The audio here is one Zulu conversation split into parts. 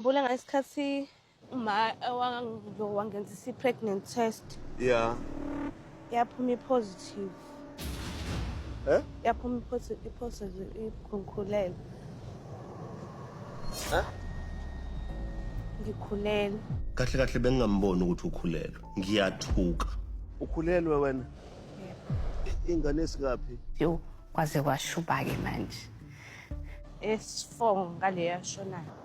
Mbula ngesikhathi uma wangizo wangenza isi pregnant test Yeah. yaphuma ipositive. Eh? Yaphuma ipositive ipositive ikhulele. Eh? Ngikhulele. Kahle kahle bengingamboni ukuthi ukhulelwe. Ngiyathuka. Ukhulelwe wena? I- Ingane esikaphi? Yo, kwaze kwashuba-ke manje. Esifo ngale yashonayo.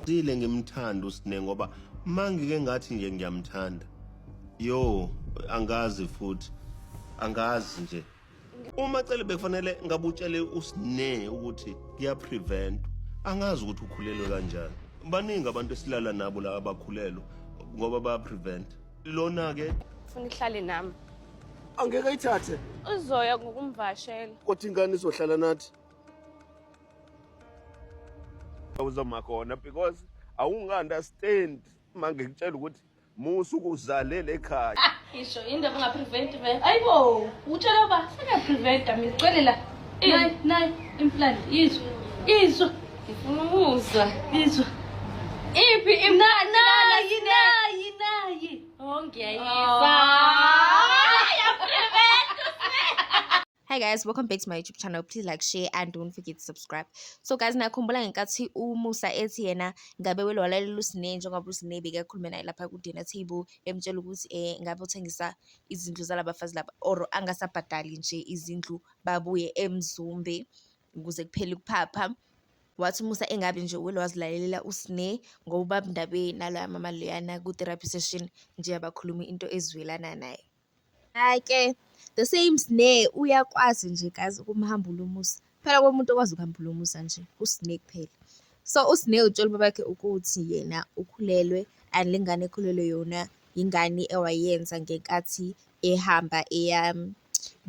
Sile ngimthanda usine ngoba mangike ngathi nje ngiyamthanda yo angazi futhi angazi nje uma cele bekufanele ngabe utshele usine ukuthi kuya prevent angazi ukuthi ukhulelwe kanjani baningi abantu esilala nabo la abakhulelwe ngoba baya prevent lona ke ufuna ihlale nami angeke ayithathe uzoya ngokumvashela kodwa ingane izohlala nathi uzoma khona because awunga-understand uma ngikutshela ukuthi musa ukuzalele ekhaya isho yini ndaba ungapreventi vele ayibo utshela uba sengiyapreventa mina cwele la nayi nayi implant izwa izwa ngifuna ukuzwa izwa iphi nayi nayi nayi Oh, Hi guys, welcome back to my YouTube channel. Please like, share and don't forget to subscribe. So guys, nakhumbula ngenkathi uMusa ethi yena ngabe welwalalela uSine njengoba uSine bekakhulume naye lapha ku dinner table emtshela ukuthi eh ngabe uthengisa izindlu zalabafazi laba or angasabhadali nje izindlu babuye eMzumbe. ukuze kuphele ukuphapha wathi umusa engabe nje wele wazilalelela usne ngobaba ndaba naloya mama loyana ku-therapy session nje abakhuluma into ezwelana naye ake the same sne uyakwazi nje kazi ukumhambula umusa phela komuntu okwazi ukuhambula umusa nje usne kuphela so usne utshela ubabakhe ukuthi yena ukhulelwe and le ngane ekhulelwe yona yingane ewayenza ngenkathi ehamba eya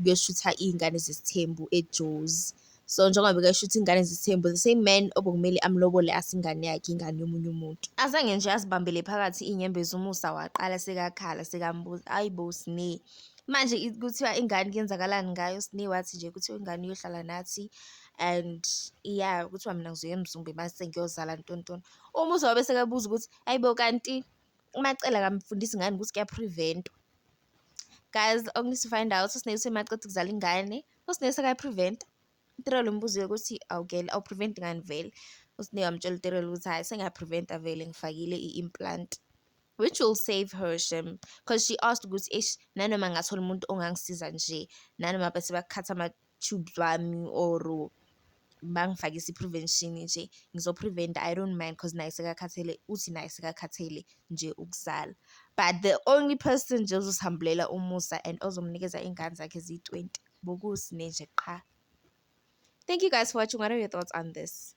kuyoshutha iy'ngane zesithembu eJozi. So njengoba bekashutha iy'ngane zesithembu, the same man obekumele amlobole asingane yakhe ingane yomunye umuntu. Azange nje azibambele phakathi iy'nyembezi umusa waqala sekakhala sekambuza, ayi bo Sne. Manje kuthiwa ingane kuyenzakalani ngayo, Sne wathi nje kuthiwa ingane iyohlala nathi and iya kuthiwa mina ngizoya eMzumbe mase ngiyozala ntontoni. Umusa wabe sekabuza ukuthi, ayi bo kanti uMacela akamfundisi ngani ukuthi kuyaphrieventwa? guys okuneeds to find out usinesi semaceda ukuzala ingane usinesi akayipreventa utirelo umbuzo yokuthi awugele awupreventi ngani vele usine wamtshela utirelo ukuthi hhayi sengiyapreventa vele ngifakile i-implant which will save her shem because she asked ukuthi eish nanoma ngathola umuntu ongangisiza nje nanoma bese bakhatha tube lwami or bangifake isi-prevention nje ngizo-prevent i don't mind because naye sekakhathele uthi naye sekakhathele nje ukuzala but the only person nje ozosihambulela umusa and ozomnikeza iy'ngane zakhe ziyi-twenty bokusine nje qha thank you guys for watching what are your thoughts on this